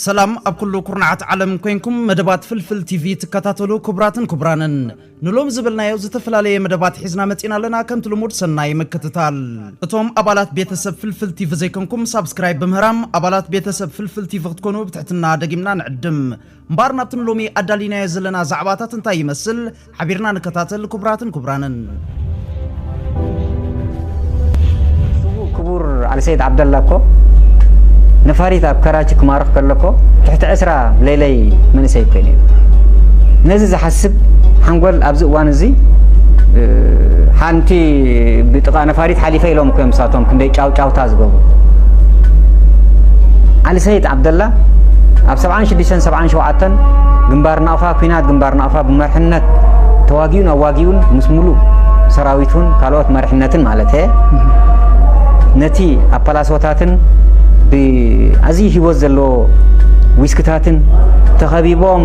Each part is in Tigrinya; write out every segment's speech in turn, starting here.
ሰላም ኣብ ኩሉ ኩርናዓት ዓለም ኮይንኩም መደባት ፍልፍል ቲቪ ትከታተሉ ክቡራትን ክቡራንን ንሎም ዝበልናዮ ዝተፈላለየ መደባት ሒዝና መጺና ኣለና ከምቲ ልሙድ ሰናይ ምክትታል እቶም ኣባላት ቤተሰብ ፍልፍል ቲቪ ዘይኮንኩም ሳብስክራይብ ብምህራም ኣባላት ቤተሰብ ፍልፍል ቲቪ ክትኮኑ ብትሕትና ደጊምና ንዕድም እምበኣር ናብቲ ንሎሚ ኣዳሊናዮ ዘለና ዛዕባታት እንታይ ይመስል ሓቢርና ንከታተል ክቡራትን ክቡራንን። ክቡር ዓሊ ሰይድ ዓብደላ እኮ ነፋሪት ኣብ ከራቺ ክማርኽ ከለኮ ትሕቲ ዕስራ ሌለይ መንእሰይ እኮ ነይሩ ነዚ ዝሓስብ ሓንጎል ኣብዚ እዋን እዚ ሓንቲ ብጥቃ ነፋሪት ሓሊፈ ኢሎም እኮ እዮም ሳቶም ክንደይ ጫውጫውታ ዝገብሩ ዓሊ ሰይድ ዓብደላ ኣብ 76 77 ግንባር ናቕፋ ኣብ ኲናት ግንባር ናቕፋ ብመርሕነት ተዋጊኡን ኣዋጊኡን ምስ ሙሉእ ሰራዊቱን ካልኦት መርሕነትን ማለተ ነቲ ኣብ ፓላሶታትን ብኣዝዩ ሂወት ዘለዎ ዊስክታትን ተኸቢቦም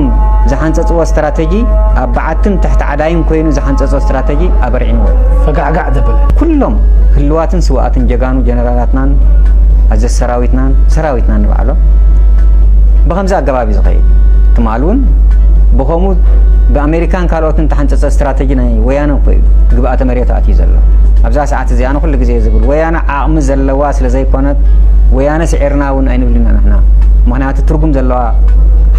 ዝሓንፀፅዎ ስትራተጂ ኣብ በዓትን ትሕቲ ዓዳይን ኮይኑ ዝሓንፀፆ ስትራተጂ ኣበርዒንዎ ፈጋዕጋዕ ዘበለ ኩሎም ህልዋትን ስዋኣትን ጀጋኑ ጀነራላትናን ኣዘዝ ሰራዊትናን ሰራዊትናን ንባዕሎም ብኸምዚ ኣገባብ እዩ ዝኸይድ። ትማል እውን ብኸምኡ ብኣመሪካን ካልኦትን እተሓንጸጸ ስትራተጂ ናይ ወያነ እኮ እዩ ግብኣተ መሬቱ ኣትዩ ዘሎ። ኣብዛ ሰዓት እዚኣ ኣነ ኩሉ ግዜ ዝብል ወያነ ዓቕሚ ዘለዋ ስለ ዘይኮነት ወያነ ስዒርና እውን ኣይንብልን ኢና ንሕና። ምኽንያቱ ትርጉም ዘለዋ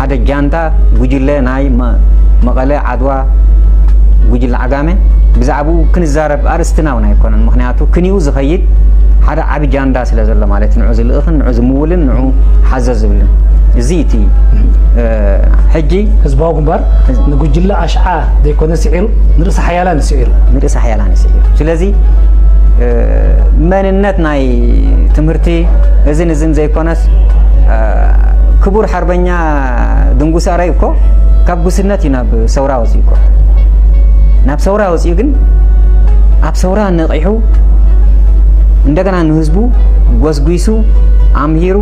ሓደ ጃንታ ጉጅለ ናይ መቐለ ዓድዋ ጉጅለ ዓጋመ ብዛዕብኡ ክንዛረብ ኣርእስትና እውን ኣይኮነን። ምኽንያቱ ክንኡ ዝኸይድ ሓደ ዓቢ ጃንዳ ስለ ዘሎ ማለት ንዑ ዝልእኽን ንዑ ዝምውልን ንዑ ሓዘ ዝብልን እዚ እቲ ሕጂ ህዝባዊ ግንባር ንጉጅለ ኣሽዓ ዘይኮነ ስዒሩ ንርእሲ ሓያላን ስዒሩ ንርእሲ ሓያላን ስዒሩ ስለዚ መንነት ናይ ትምህርቲ እዝን እዝን ዘይኮነስ ክቡር ሓርበኛ ድንጉስ ኣረይ እኮ ካብ ጉስነት እዩ ናብ ሰውራ ወፂኡ እኮ ናብ ሰውራ ወፂኡ ግን ኣብ ሰውራ ጁንታ ነቒሑ እንደገና ንህዝቡ ጎስጒሱ ኣምሂሩ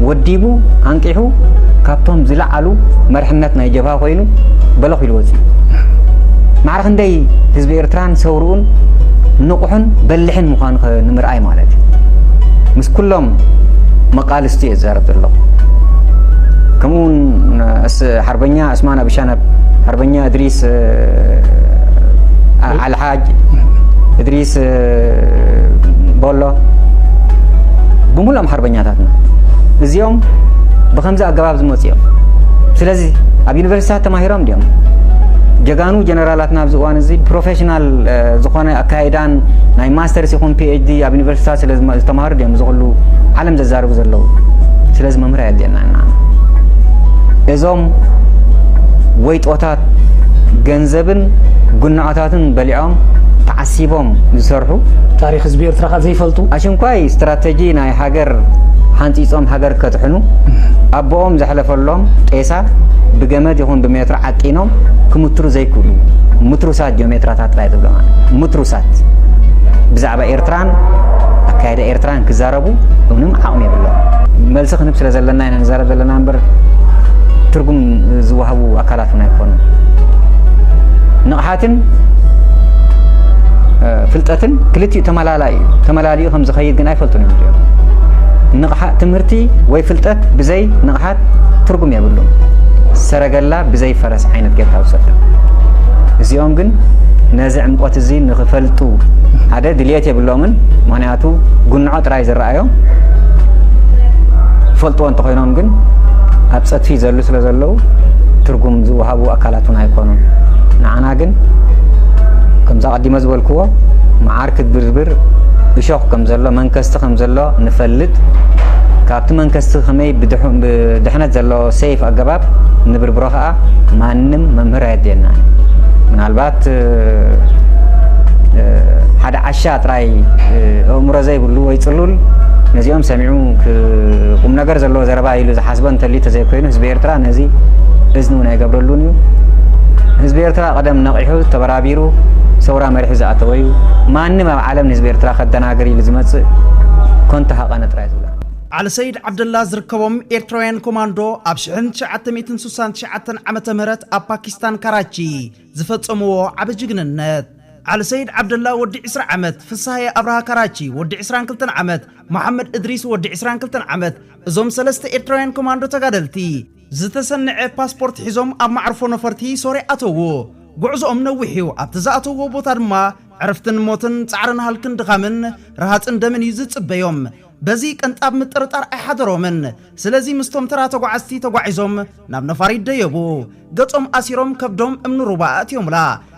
ወዲቡ ኣንቂሑ ካብቶም ዝለዓሉ መርሕነት ናይ ጀብሃ ኮይኑ በለኽ ኢሉ ወፂኡ ማዕረ ክንደይ ህዝቢ ኤርትራን ሰውርኡን ንቑሕን በልሕን ምዃኑ ንምርኣይ ማለት እዩ ምስ ኩሎም መቃልስቲ እየ ዝዛረብ ዘለኹ ከምኡ እውን ሓርበኛ እስማን ኣቢሻነብ ሓርበኛ እድሪስ ዓልሓ ሓጅ እድሪስ ቦሎ ብምሉኦም ሓርበኛታትና እዚኦም ብከምዚ ኣገባብ ዝመፁ እዮም ስለዚ ኣብ ዩኒቨርሲቲታት ተማሂሮም ድኦም ጀጋኑ ጀነራላትና ኣብዚ እዋን እዚ ፕሮፌሽናል ዝኾነ ኣካይዳን ናይ ማስተርስ ይኹን ፒኤችዲ ኣብ ዩኒቨርሲቲታት ስለ ዝተማሃሩ ድኦም እዚ ኩሉ ዓለም ዘዛርቡ ዘለዉ ስለዚ መምህር ኣየድልየና ኢና እዞም ወይጦታት ገንዘብን ጉናዖት እንስሳታትን በሊዖም ተዓሲቦም ዝሰርሑ። ታሪኽ ህዝቢ ኤርትራ ከኣ ዘይፈልጡ። ኣሽንኳይ ስትራተጂ ናይ ሃገር ሓንጺጾም ሃገር ከድሕኑ ኣቦኦም ዘሕለፈሎም ጤሳ ብገመድ ይኹን ብሜትሮ ዓጢኖም ክምትሩ ዘይክእሉ ምትሩሳት ጂኦሜትራታት ጥራይ ትብሎም ኣነ። ምትሩሳት ብዛዕባ ኤርትራን ኣካይዳ ኤርትራን ክዛረቡ ክረከቡ ምንም ዓቕሚ የብሎምን። መልሲ ክንህብ ስለ ዘለና ኢና ንዛረብ ዘለና እምበር ትርጉም ዝወሃቡ ኣካላት እውን ኣይኮኑን። ንቕሓትን ፍልጠትን ክልቲኡ ተመላላኢ እዩ። ተመላሊኡ ከም ዝኸይድ ግን ኣይፈልጡን እዮም እዚኦም። ንቕሓት ትምህርቲ ወይ ፍልጠት ብዘይ ንቕሓት ትርጉም የብሉን። ሰረገላ ብዘይ ፈረስ ዓይነት ጌርካ ውሰድ። እዚኦም ግን ነዚ ዕምቆት እዚ ንክፈልጡ ሓደ ድልየት የብሎምን። ምኽንያቱ ጉንዖ ጥራይ ዝረኣዮም ይፈልጥዎ እንተኾይኖም ግን ኣብ ፀትፊ ዘሉ ስለ ዘለዉ ትርጉም ዝወሃቡ ኣካላት እውን ኣይኮኑን ንዓና ግን ከምዛ ቀዲመ ዝበልክዎ መዓር ክትብርብር እሾኽ ከም ዘሎ መንከስቲ ከም ዘሎ ንፈልጥ ካብቲ መንከስቲ ከመይ ብድሕነት ዘሎ ሰይፍ ኣገባብ ንብርብሮ ከዓ ማንም መምህር ኣየድልየና ምናልባት ሓደ ዓሻ ጥራይ ኣእምሮ ዘይብሉ ወይ ጽሉል ነዚኦም ሰሚዑ ቁምነገር ዘለዎ ዘረባ ኢሉ ዝሓስቦ እንተልዩ ተዘይኮይኑ ህዝቢ ኤርትራ ነዚ እዝኒ እውን ኣይገብረሉን እዩ። ህዝቢ ኤርትራ ቀደም ነቒሑ ተበራቢሩ ሰውራ መሪሑ ዝኣተወ እዩ። ማንም ኣብ ዓለም ንህዝቢ ኤርትራ ከደናግር ኢሉ ዝመጽእ ኮንቶ ሃቐነ ጥራይ እዩ ዝብሎ። ዓሊ ሰይድ ዓብደላ ዝርከቦም ኤርትራውያን ኮማንዶ ኣብ ሽሕን ትሽዓተ ሚእትን ስሳን ትሽዓተን ዓመተ ምህረት ኣብ ፓኪስታን ካራቺ ዝፈጸምዎ ዓቢ ጅግንነት። ዓሊ ሰይድ ዓብደላ ወዲ ዕስራ ዓመት፣ ፍስሃየ ኣብርሃ ካራቺ ወዲ ዕስራን ክልተን ዓመት፣ መሓመድ እድሪስ ወዲ ዕስራን ክልተን ዓመት፣ እዞም ሰለስተ ኤርትራውያን ኮማንዶ ተጋደልቲ፣ ዝተሰነዐ ፓስፖርት ሒዞም ኣብ መዓርፎ ነፈርቲ ሶርያ ኣተዉ። ጉዕዞኦም ነዊሕ'ዩ፣ ኣብቲ ዝኣተውዎ ቦታ ድማ ዕረፍትን ሞትን፣ ጻዕርን ሃልክን ድኻምን፣ ርሃጽን ደምን እዩ ዝጽበዮም። በዚ ቅንጣብ ምጥርጣር ኣይሓደሮምን። ስለዚ ምስቶም ተራ ተጓዓዝቲ ተጓዒዞም ናብ ነፋሪት ደየቡ። ገጾም ኣሲሮም ከብዶም እምኒ ሩባ ኣእትዮምላ።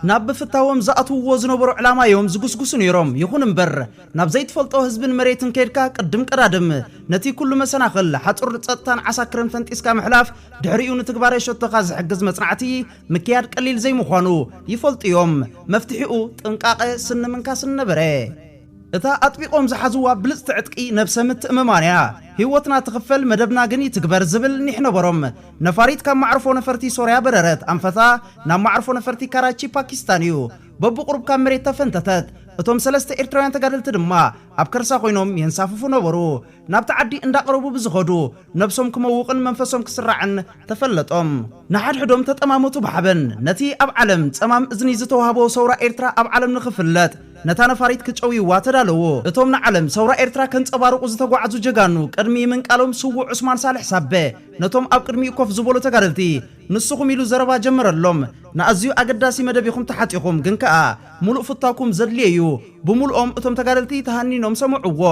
ናብ ብፍታዎም ዝኣትውዎ ዝነበሩ ዕላማ እዮም ዝጉስጉሱ ነይሮም። ይኹን እምበር ናብ ዘይትፈልጦ ህዝብን መሬትን ከይድካ ቅድም ቀዳድም ነቲ ኩሉ መሰናኽል ሓጹር ጸጥታን ዓሳክርን ፈንጢስካ ምሕላፍ ድሕሪኡ ንትግባረ ሸቶኻ ዝሕግዝ መጽናዕቲ ምክያድ ቀሊል ዘይምዃኑ ይፈልጡ እዮም። መፍትሒኡ ጥንቃቐ ስኒ ምንካስ ነበረ። እታ ኣጥቢቖም ዝሓዝዋ ብልጽቲ ዕጥቂ ነብሰ ምትእምማን እያ። ህይወትና ትኽፈል መደብና ግን ይትግበር ዝብል ኒሕ ነበሮም። ነፋሪት ካብ ማዕርፎ ነፈርቲ ሶርያ በረረት። ኣንፈታ ናብ ማዕርፎ ነፈርቲ ካራቺ ፓኪስታን እዩ። በብቑሩብ ካብ መሬት ተፈንተተት። እቶም ሰለስተ ኤርትራውያን ተጋደልቲ ድማ ኣብ ከርሳ ኮይኖም የንሳፍፉ ነበሩ። ናብቲ ዓዲ እንዳቕረቡ ብዝኸዱ፣ ነብሶም ክመውቕን መንፈሶም ክስራዕን ተፈለጦም። ንሓድሕዶም ተጠማመቱ ብሓበን። ነቲ ኣብ ዓለም ጸማም እዝኒ ዝተዋህቦ ሰውራ ኤርትራ ኣብ ዓለም ንኽፍለጥ፣ ነታ ነፋሪት ክጨውይዋ ተዳለዉ። እቶም ንዓለም ሰውራ ኤርትራ ከንጸባርቑ ዝተጓዕዙ ጀጋኑ፣ ቅድሚ ምንቃሎም ስዉእ ዑስማን ሳልሕ ሳበ፣ ነቶም ኣብ ቅድሚኡ ኮፍ ዝበሉ ተጋደልቲ፣ ንስኹም ኢሉ ዘረባ ጀመረሎም። ንኣዝዩ ኣገዳሲ መደብ ኢኹም ተሓጢኹም፣ ግን ከኣ ምሉእ ፍታውኩም ዘድልዮ'ዩ። ብምሉኦም እቶም ተጋደልቲ ተሃኒኖም ሰምዑዎ።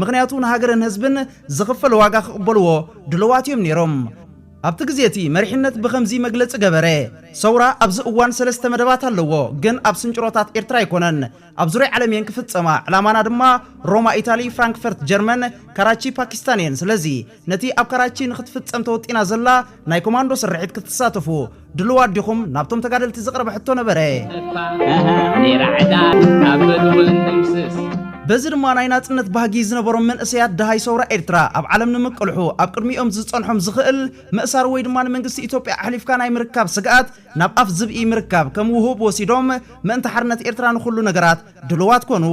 ምኽንያቱ ንሃገርን ህዝብን ዝኽፈል ዋጋ ክቕበልዎ ድሉዋት እዮም ነይሮም። ኣብቲ ግዜ እቲ መሪሕነት ብኸምዚ መግለጺ ገበረ። ሰውራ ኣብዚ እዋን ሰለስተ መደባት ኣለዎ፣ ግን ኣብ ስንጭሮታት ኤርትራ ኣይኮነን። ኣብ ዙርያ ዓለም እየን ክፍጸማ፣ ዕላማና ድማ ሮማ ኢታሊ፣ ፍራንክፈርት ጀርመን፣ ካራቺ ፓኪስታን እየን። ስለዚ። ነቲ ኣብ ካራቺ ንክትፍጸም ተወጢና ዘላ ናይ ኮማንዶ ስርሒት ክትሳተፉ ድሉዋት ዲኹም? ናብቶም ተጋደልቲ ዝቐረበ ሕቶ ነበረ። በዚ ድማ ናይ ናጽነት ባህጊ ዝነበሮም መንእሰያት ደሃይ ሰውራ ኤርትራ ኣብ ዓለም ንምቅልሑ ኣብ ቅድሚኦም ዝጸንሖም ዝኽእል ምእሳር ወይ ድማ ንመንግስቲ ኢትዮጵያ ኣሕሊፍካ ናይ ምርካብ ስግኣት ናብ ኣፍ ዝብኢ ምርካብ ከም ውሁብ ወሲዶም ምእንቲ ሓርነት ኤርትራ ንኹሉ ነገራት ድሉዋት ኮኑ።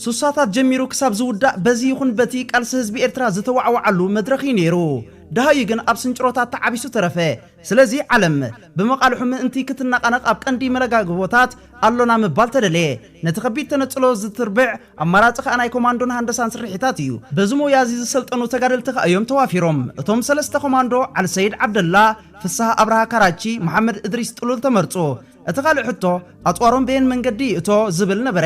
ሱሳታት ጀሚሩ ክሳብ ዝውዳእ በዚ ይኹን በቲ ቃልሲ ህዝቢ ኤርትራ ዝተዋዕወዓሉ መድረኽ ኢዩ ነይሩ። ደሃዩ ግን ኣብ ስንጭሮታት ተዓቢሱ ተረፈ። ስለዚ ዓለም ብመቓልሑ ምእንቲ ክትነቓነቕ ኣብ ቀንዲ መለጋግቦታት ኣሎና ምባል ተደለየ። ነቲ ከቢድ ተነጽሎ ዝትርብዕ ኣማራጺ ከኣ ናይ ኮማንዶን ሃንደሳን ስርሒታት ኢዩ። በዚ ሞያዚ ዝሰልጠኑ ተጋደልቲ ከኣ ኢዮም ተዋፊሮም። እቶም ሰለስተ ኮማንዶ፣ ዓልሰይድ ዓብደላ፣ ፍስሃ ኣብርሃ ካራቺ፣ መሓመድ እድሪስ ጥሉል ተመርጹ። እቲ ካልእ ሕቶ ኣጽዋሮም በየን መንገዲ ይእቶ ዝብል ነበረ።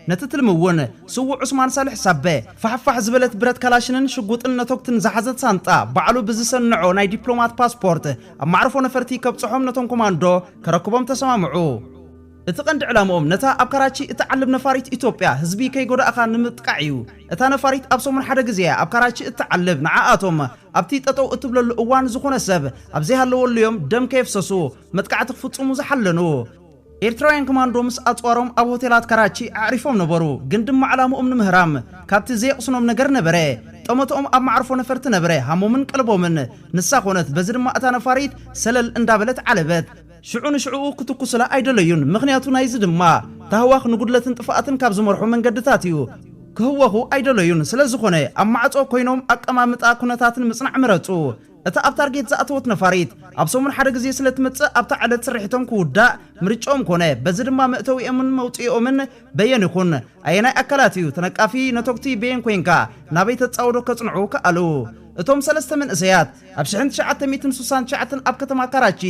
ነቲ ትልሚ እውን ስዉእ ዑስማን ሳልሕ ሳበ፣ ፋሕፋሕ ዝበለት ብረት ካላሽንን ሽጉጥን ነቶግትን ዝሓዘት ሳንጣ፣ ባዕሉ ብዝሰነዖ ናይ ዲፕሎማት ፓስፖርት ኣብ ማዕርፎ ነፈርቲ ከብጽሖም ነቶም ኮማንዶ ከረክቦም ተሰማምዑ። እቲ ቀንዲ ዕላምኦም ነታ ኣብ ካራቺ እትዓልብ ነፋሪት ኢትዮጵያ ህዝቢ ከይጎዳእካ ንምጥቃዕ እዩ። እታ ነፋሪት ኣብ ሰሙን ሓደ ግዜ እያ ኣብ ካራቺ እትዓልብ፣ ንዓኣቶም ኣብቲ ጠጠው እትብለሉ እዋን ዝኾነ ሰብ ኣብ ዘይሃለወሉ እዮም ደም ከየፍሰሱ መጥቃዕቲ ክፍጽሙ ዝሓለኑ ኤርትራውያን ኮማንዶ ምስ ኣጽዋሮም ኣብ ሆቴላት ካራቺ ኣዕሪፎም ነበሩ፣ ግን ድማ ዕላምኦም ንምህራም ካብቲ ዘየቕስኖም ነገር ነበረ። ጠመተኦም ኣብ መዓርፎ ነፈርቲ ነበረ፣ ሃሞምን ቀልቦምን ንሳ ኮነት፣ በዚ ድማ እታ ነፋሪት ሰለል እንዳበለት ዓለበት። ሽዑ ንሽዕኡ ክትኩሱላ ኣይደለዩን፣ ምኽንያቱ ናይዚ ድማ ታህዋኽ ንጉድለትን ጥፍኣትን ካብ ዝመርሑ መንገድታት እዩ። ክህወኹ ኣይደለዩን፣ ስለዝኾነ ኣብ ማዕጾ ኮይኖም ኣቀማምጣ ኩነታትን ምጽናዕ መረጹ። እታ ኣብ ታርጌት ዝኣተወት ነፋሪት፣ ኣብ ሰሙን ሓደ ግዜ ስለ ትመጽእ፣ ኣብታ ዕለት ስርሒቶም ክውዳእ ምርጭኦም ኮነ። በዚ ድማ መእተዊኦምን መውጽኢኦምን በየን ይኹን፣ ኣየናይ ኣካላት እዩ ተነቃፊ፣ ነቶግቲ በየን ኮይንካ ናበይ ተጻውዶ ከጽንዑ ከኣሉ። እቶም ሰለስተ መንእሰያት፣ ኣብ ሽሕን ትሽዓተ ሚእትን ሱሳን ትሽዓተን ኣብ ከተማ ካራቺ፣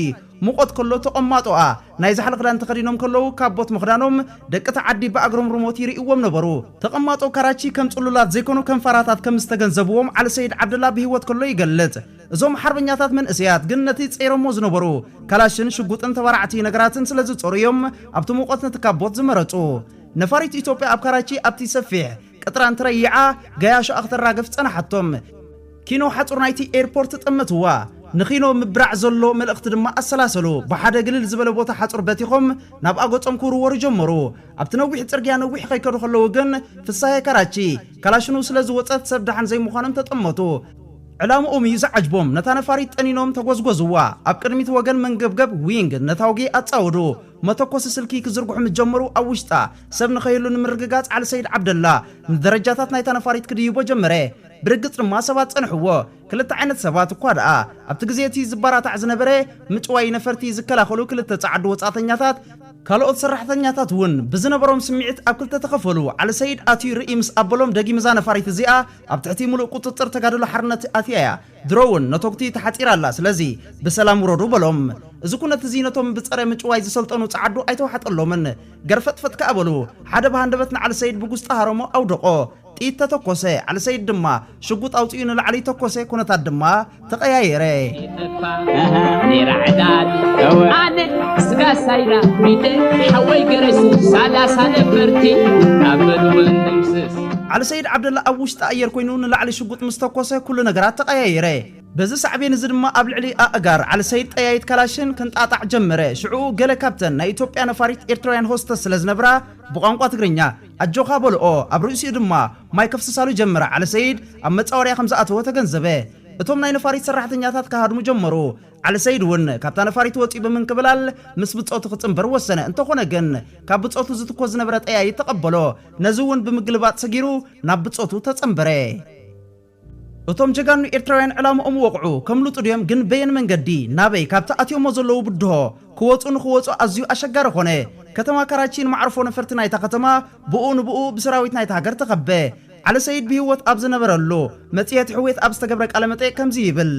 ሙቐት ከሎ ተቐማጦኣ ናይ ዛሕሊ ክዳን ተኸዲኖም ከለዉ ካብ ቦት ምኽዳኖም ደቂ እታ ዓዲ ብኣግሮምርሞት ይርእይዎም ነበሩ። ተቐማጦ ካራቺ ከም ጽሉላት ዘይኮኑ ከም ፋራታት ከም ዝተገንዘብዎም ዓሊ ሰይድ ዓብደላ ብህይወት ከሎ ይገልጽ። እዞም ሓርበኛታት መንእሰያት ግን ነቲ ጸይሮሞ ዝነበሩ ካላሽን ሽጉጥን ተባራዕቲ ነገራትን ስለ ዝጸሩ እዮም ኣብቲ ሙቐት ነቲ ካብ ቦት ዝመረጹ። ነፋሪት ኢትዮጵያ ኣብ ካራቺ ኣብቲ ሰፊሕ ቅጥራ እንትረይዓ ገያሾኣ ክተራግፍ ጸናሓቶም። ኪኖ ሓጹር ናይቲ ኤርፖርት ጠመትዋ። ንኪኖ ምብራዕ ዘሎ መልእኽቲ ድማ ኣሰላሰሉ። ብሓደ ግልል ዝበለ ቦታ ሓጹር በቲኾም ናብ ኣጎጾም ክውርወሩ ጀመሩ። ኣብቲ ነዊሕ ጽርግያ ነዊሕ ከይከዱ ከለዉ ግን ፍሳሄ ካራቺ፣ ካላሽኑ ስለ ዝወጸት ሰብ ደሓን ዘይምዃኖም ተጠመቱ። ዕላምኦም እዩ ዝዓጅቦም። ነታ ነፋሪት ጠኒኖም ተጎዝጎዝዋ። ኣብ ቅድሚት ወገን መንገብገብ፣ ዊንግ፣ ነታጒ ኣጻወዱ። መተኮሲ ስልኪ ክዝርግሑ ምስ ጀመሩ ኣብ ውሽጣ ሰብ ንኸይህሉ ንምርግጋጽ ዓሊ ሰይድ ዓብደላ ንደረጃታት ናይታ ነፋሪት ክድይቦ ጀመረ። ብርግጽ ድማ ሰባት ጸንሕዎ። ክልተ ዓይነት ሰባት እኳ ደኣ ኣብቲ ግዜ እቲ ዝበራታዕ ዝነበረ፣ ምጭዋይ ነፈርቲ ዝከላኸሉ ክልተ ጸዓዱ ወጻእተኛታት፣ ካልኦት ሰራሕተኛታት እውን ብዝነበሮም ስምዒት ኣብ ክልተ ተኸፈሉ። ዓሊ ሰይድ ኣትዩ ርእይ ምስ ኣበሎም ደጊም እዛ ነፋሪት እዚኣ ኣብ ትሕቲ ምሉእ ቁጽጽር ተጋድሎ ሓርነት ኣትያ እያ። ድሮ እውን ነቶጕቲ ተሓጺራ ኣላ፣ ስለዚ ብሰላም ውረዱ በሎም። እዚ ኵነት እዚ ነቶም ብጸረ ምጭዋይ ዝሰልጠኑ ጸዓዱ ኣይተዋሕጠሎምን። ገርፈጥፈጥ ከኣ በሉ። ሓደ ብሃንደበት ንዓሊ ሰይድ ብጕስጢ ሃረሞ፣ ኣውደቖ። ጥይት ተተኰሰ፣ ዓሊ ሰይድ ድማ ሽጕጥ ኣውጺኡ ንላዕሊ ተኰሰ፣ ኵነታት ድማ ተቐያየረ። ዓሊ ሰይድ ዓብደላ ኣብ ውሽጢ ኣየር ኰይኑ ንላዕሊ ሽጕጥ ሽጉጥ ምስ ተኮሰ ኩሉ ነገራት ተቐያየረ። በዚ ሳዕቤን እዚ ድማ ኣብ ልዕሊ ኣእጋር ዓሊ ሰይድ ጠያይት ካላሽን ክንጣጣዕ ጀመረ። ሽዕኡ ገለ ካብተን ናይ ኢትዮጵያ ነፋሪት ኤርትራውያን ሆስተስ ስለ ዝነብራ ብቋንቋ ትግርኛ ኣጆኻ በልኦ። ኣብ ርእሲኡ ድማ ማይ ከፍስሳሉ ጀመረ። ዓሊ ሰይድ ኣብ መጻወድያ ከም ዝኣተወ ተገንዘበ። እቶም ናይ ነፋሪት ሰራሕተኛታት ክሃድሙ ጀመሩ። ዓሊ ሰይድ እውን ካብታ ነፋሪት ወጺኡ ብምንክብላል ምስ ብጾቱ ክጽንበር ወሰነ። እንተኾነ ግን ካብ ብጾቱ ዝትኮስ ዝነበረ ጠያይት ተቐበሎ። ነዚ እውን ብምግልባጥ ሰጊሩ ናብ ብጾቱ ተጸንበረ። እቶም ጀጋኑ ኤርትራውያን ዕላምኦም ወቕዑ። ከምልጡ ድዮም ግን በየን መንገዲ? ናበይ? ካብቲ ኣትዮሞ ዘለዉ ብድሆ ክወጹ ንኽወጹ ኣዝዩ ኣሸጋሪ ኮነ። ከተማ ካራቺን መዓርፎ ነፈርቲ ናይታ ከተማ ብኡ ንብኡ ብሰራዊት ናይታ ሃገር ተኸበ። ዓሊ ሰይድ ብሂወት ኣብ ዝነበረሉ፣ መጽሔት ሕውየት ኣብ ዝተገብረ ቃለ መጠይቕ ከምዚ ይብል።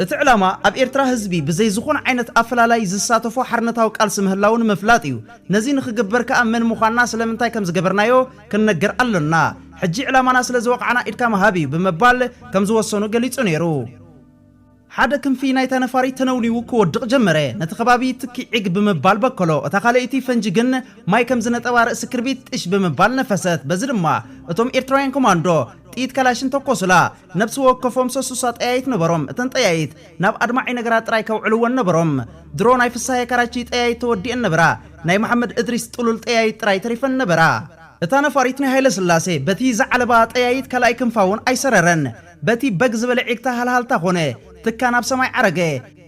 እቲ ዕላማ ኣብ ኤርትራ ህዝቢ ብዘይ ዝኾነ ዓይነት ኣፈላላይ ዝሳተፎ ሓርነታዊ ቃልሲ ምህላዉ ንምፍላጥ እዩ። ነዚ ንኽግበር ከኣ መን ምዃንና ስለምንታይ ከም ዝገበርናዮ ክንነገር ኣሎና። ሕጂ ዕላማና ስለ ዝወቓዕና ኢድካ ምሃብ እዩ ብምባል ከም ዝወሰኑ ገሊጹ ነይሩ። ሓደ ክንፊ ናይታ ነፋሪት ተነውኒዉ ክወድቕ ጀመረ። ነቲ ከባቢ ትኪ ዒግ ብምባል በከሎ። እታ ካልኣይቲ ፈንጂ ግን ማይ ከም ዝነጠባ ርእሲ ክርቢት ጥሽ ብምባል ነፈሰት። በዚ ድማ እቶም ኤርትራውያን ኮማንዶ ጥይት ካላሽን ተኮሱላ። ነብሲ ወከፎም ሰሱሳ ጠያይት ነበሮም። እተን ጠያይት ናብ ኣድማዒ ነገራት ጥራይ ከውዕልወን ነበሮም። ድሮ ናይ ፍሳሃየ ካራቺ ጠያይት ተወዲኤን ነበራ። ናይ መሓመድ እድሪስ ጥሉል ጠያይት ጥራይ ተሪፈን ነበራ። እታ ነፋሪት ናይ ሃይለስላሴ በቲ ዝዓለባ ጠያይት ካልኣይ ክንፋ እውን ኣይሰረረን። በቲ በግ ዝበለ ዒግታ ሃልሃልታ ኮነ። ትካ ናብ ሰማይ ዓረገ።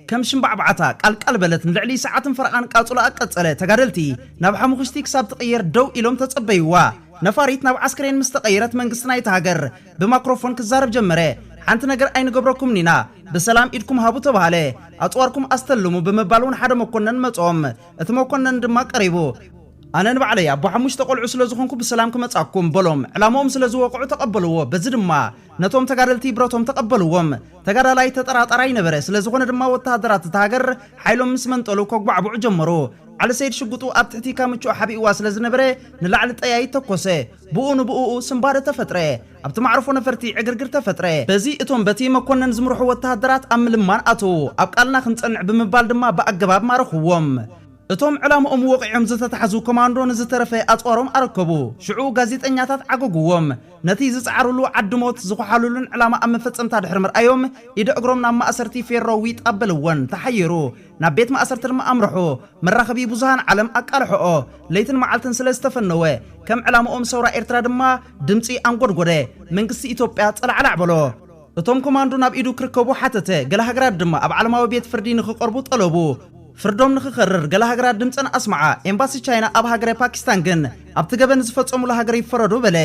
ከም ሽምባዕባዕታ ቃልቃል በለት። ንልዕሊ ሰዓትን ፈረቓን ቃጹላኣ ቀጸለ። ተጋደልቲ ናብ ሓሙኹሽቲ ክሳብ ትቕየር ደው ኢሎም ተጸበዩዋ። ነፋሪት ናብ ዓስከሬን ምስ ተቐየረት መንግስቲ ናይታ ሃገር፣ ብማክሮፎን ክዛረብ ጀመረ። ሓንቲ ነገር ኣይንገብረኩምን ኢና፣ ብሰላም ኢድኩም ሃቡ ተባህለ። ኣጽዋርኩም ኣስተልሙ ብምባል ውን ሓደ መኮነን መጾም። እቲ መኮነን ድማ ቀሪቡ። ኣነ ንባዕለይ ኣቦ ሓሙሽተ ቆልዑ ስለ ዝኾንኩ ብሰላም ክመጻኩም በሎም። ዕላምኦም ስለ ዝወቕዑ ተቐበልዎ። በዚ ድማ ነቶም ተጋደልቲ ብረቶም ተቐበልዎም። ተጋዳላይ ተጠራጣራይ ነበረ። ስለ ዝኾነ ድማ ወተሃደራት እታ ሃገር ሓይሎም ምስ መንጠሉ ከጉባዕብዑ ጀመሩ። ዓሊ ሰይድ ሽጉጡ ኣብ ትሕቲ ካምችኡ ሓቢእዋ ስለ ዝነበረ ንላዕሊ ጠያይት ተኮሰ። ብኡ ንብኡኡ ስንባደ ተፈጥረ። ኣብቲ ማዕርፎ ነፈርቲ ዕግርግር ተፈጥረ። በዚ እቶም በቲ መኮነን ዝምርሑ ወተሃደራት ኣብ ምልማን ኣተዉ። ኣብ ቃልና ክንጸንዕ ብምባል ድማ ብኣገባብ ማረኽዎም። እቶም ዕላምኦም ወቒዖም ዝተታሕዙ ኮማንዶ ንዝተረፈ ኣጽዋሮም ኣረከቡ። ሽዑ ጋዜጠኛታት ዓጐጕዎም። ነቲ ዝጸዓሩሉ ዓዲ ሞት ዝዀሓሉሉን ዕላማ ኣብ መፈጸምታ ድሕሪ ምርኣዮም፣ ኢደ እግሮም ናብ ማእሰርቲ ፌሮ ዊጥ ኣበልወን። ተሓየሩ። ናብ ቤት ማእሰርቲ ድማ ኣምርሑ። መራኸቢ ብዙሃን ዓለም ኣቃልሖኦ ለይትን መዓልትን ስለ ዝተፈነወ፣ ከም ዕላምኦም ሰውራ ኤርትራ ድማ ድምጺ ኣንጎድጎደ። መንግስቲ ኢትዮጵያ ጸላዕላዕ በሎ። እቶም ኮማንዶ ናብ ኢዱ ክርከቡ ሓተተ። ገለ ሃገራት ድማ ኣብ ዓለማዊ ቤት ፍርዲ ንኽቐርቡ ጠለቡ። ፍርዶም ንኽከርር ገለ ሃገራት ድምጸን ኣስምዓ። ኤምባሲ ቻይና ኣብ ሃገረ ፓኪስታን ግን፣ ኣብቲ ገበን ዝፈጸሙላ ሃገር ይፈረዱ በለ።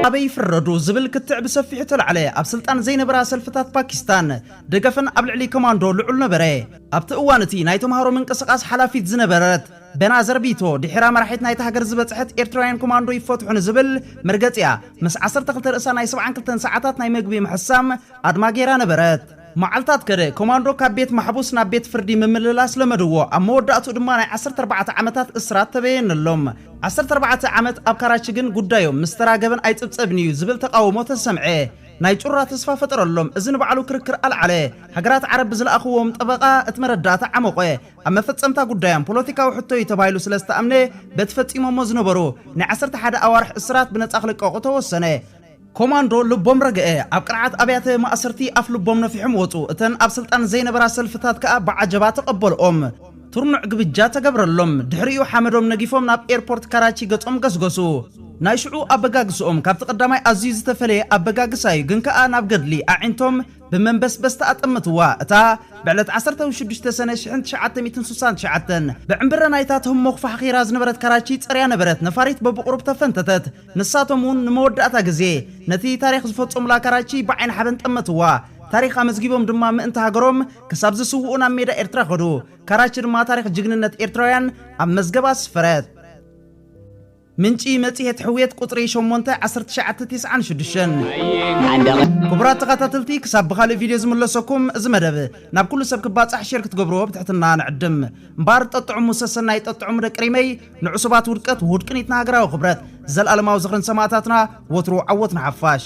ኣበይ ይፍረዱ ዝብል ክትዕ ብሰፊሑ ተላዕለ። ኣብ ስልጣን ዘይነበራ ሰልፍታት ፓኪስታን፣ ደገፍን ኣብ ልዕሊ ኮማንዶ ልዑል ነበረ። ኣብቲ እዋን እቲ ናይ ተማሃሮ ምንቅስቓስ ሓላፊት ዝነበረት በና ዘርቢቶ ድሒራ መራሒት ናይታ ሃገር ዝበጽሐት ኤርትራውያን ኮማንዶ ይፈትሑ ንዝብል መርገጺኣ ምስ ዓሰርተ ክልተ ርእሳ ናይ ሰብዓን ክልተን ሰዓታት ናይ መግቢ ምሕሳም ኣድማ ገይራ ነበረት። መዓልታት ከደ። ኮማንዶ ካብ ቤት ማሕቡስ ናብ ቤት ፍርዲ ምምልላስ ለመድዎ። ኣብ መወዳእትኡ ድማ ናይ ዓሰርተ ኣርባዕተ ዓመታት እስራት ተበየነሎም። ዓሰርተ ኣርባዕተ ዓመት ኣብ ካራቺ ግን ጉዳዮም ምስ ተራ ገበን ኣይጽብጸብን'ዩ ዝብል ተቓውሞ ተሰምዐ። ናይ ጩራ ተስፋ ፈጠረሎም። እዚ ንባዕሉ ክርክር ኣልዓለ። ሃገራት ዓረብ ብዝለኣኹዎም ጠበቓ እቲ መረዳእታ ዓሞቐ። ኣብ መፈጸምታ ጉዳዮም ፖለቲካዊ ሕቶ'ዩ ተባሂሉ ስለ ዝተኣምነ በቲ ፈጺሞሞ ዝነበሩ ናይ ዓሰርተ ሓደ ኣዋርሕ እስራት ብነጻ ክልቀቑ ተወሰነ። ኮማንዶ ልቦም ረገኤ። ኣብ ቅርዓት ኣብያተ ማእሰርቲ ኣፍ ልቦም ነፊሖም ወጹ። እተን ኣብ ስልጣን ዘይነበራ ሰልፍታት ከኣ ብዓጀባ ተቐበልኦም። ትርኑዕ ግብጃ ተገብረሎም። ድሕሪኡ ሓመዶም ነጊፎም ናብ ኤርፖርት ካራቺ ገጾም ገስገሱ። ናይ ሽዑ ኣበጋግስኦም ካብቲ ቀዳማይ ኣዝዩ ዝተፈለየ ኣበጋግሳ'ዩ፣ ግን ከኣ ናብ ገድሊ ኣዒንቶም ብመንበስበስታ ኣጠመትዋ። እታ ብዕለት ዓሰርተው ሽዱሽተ ሰነ ሽሕን ትሽዓተ ሚእትን ስሳን ትሽዓተን ብዕምብረ ናይታ ትህሞ ክፋሕኺራ ዝነበረት ካራቺ ጸርያ ነበረት ነፋሪት በብቑሩብ ተፈንተተት። ንሳቶም'ውን ንመወዳእታ ግዜ ነቲ ታሪኽ ዝፈጸሙላ ካራቺ ብዓይኒ ሓበን ጠመትዋ። ታሪኽ ኣመዝጊቦም ድማ ምእንቲ ሃገሮም ክሳብ ዝስውኡ ናብ ሜዳ ኤርትራ ከዱ። ካራች ድማ ታሪኽ ጅግንነት ኤርትራውያን ኣብ መዝገብ ኣስፈረት። ምንጪ መጽሔት ሕውየት ቁጽሪ ሸሞንተ፣ ዓሰርተ ትሽዓተ፣ ቴስዓን ሽዱሽተን። ዓንደቕ ክቡራት ተኸታተልቲ ክሳብ ብኻልእ ቪድዮ ዝምለሰኩም እዚ መደብ ናብ ኩሉ ሰብ ክባጻሕ ሼር ክትገብርዎ ብትሕትና ንዕድም። እምበኣር ጠጥዑሙ ሰሰናዩ ጠጥዑሙ ደቂ ሪመይ ንዕሱባት ውድቀት ውሁድ ቅኒት ንሃገራዊ ክብረት። ዘልኣለማዊ ዝኽሪ ንሰማእታትና ወትሩ ዓወት ንሓፋሽ።